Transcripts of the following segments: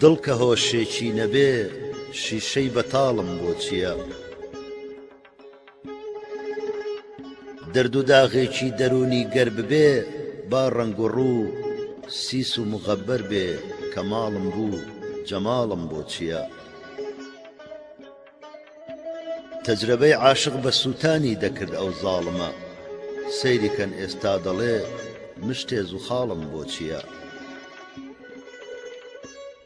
دڵ کە هۆشێکی نەبێ شیشەی بەتاڵم بۆ چییە؟ دەرد و داغێکی دەروونی گەر ببێ با ڕەنگ و ڕوو سیس و مغەبەر بێ کەماڵم بوو جەماڵم بۆ چییە؟ تەجرەبەی عاشق بە سووتانی دەکرد ئەو زاڵمە سەیری کەن ئێستا دەڵێ مشتێ زوخاڵم بۆ چییە؟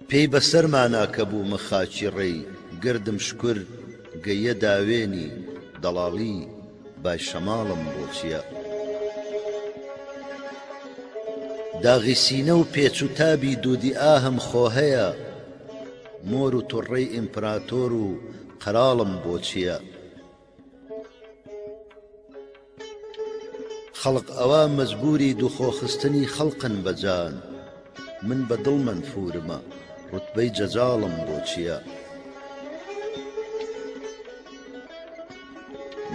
پێی بەسەرمانا کە بوومە خاچی ڕێی گردم شکر گەیە داوێنی دەڵاڵی بای شەماڵم بۆ چییە؟ داغی سینە و پێچ و تابی دوودی ئاهم خۆ هەیە، مۆر و تڕڕەی ئیمپراتۆر و قەراڵم بۆ چییە؟ خەڵق ئەوا مەجبووری دووخۆخستنی خەڵقن بە جان، من بە دڵ مەنفوورمە، ڕوتبەی جەجاڵم بۆ چییە؟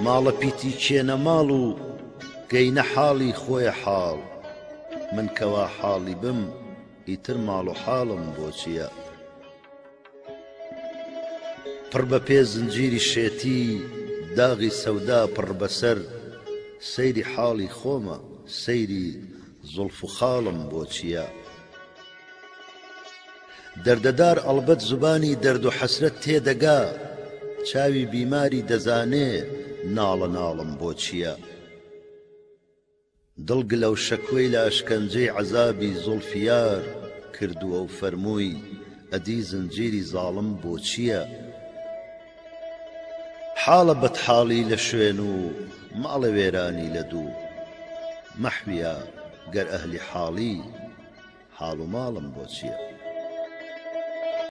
ماڵە پیتی کێنە ماڵ و گەینە حاڵی خۆیە حاڵ، من کەوا حاڵی بم، ئیتر ماڵ و حاڵم بۆ چییە؟ پڕ بە پێ زنجیری شێتی داغی سەودا پڕ بەسەر سەیری حاڵی خۆمە سەیری زوڵف و خاڵم بۆ چییە؟ دەردەدار ئەڵبەت زبانی دەرد و حەسرەت تێدەگا چاوی بیماری دەزانێ ناڵە ناڵم بۆ چییە؟ دڵ گلە و شەکوەی لە ئەشکەنجەی عەزابی زوڵفیار کردووە و فەرمووی، ئەدی زنجیری زاڵم بۆ چییە؟ حاڵە بەدحاڵی لە شوێن و ماڵە وێرانی لە دوو. مەحویا گەر ئەهلی حاڵی، حاڵ و ماڵم بۆ چییە؟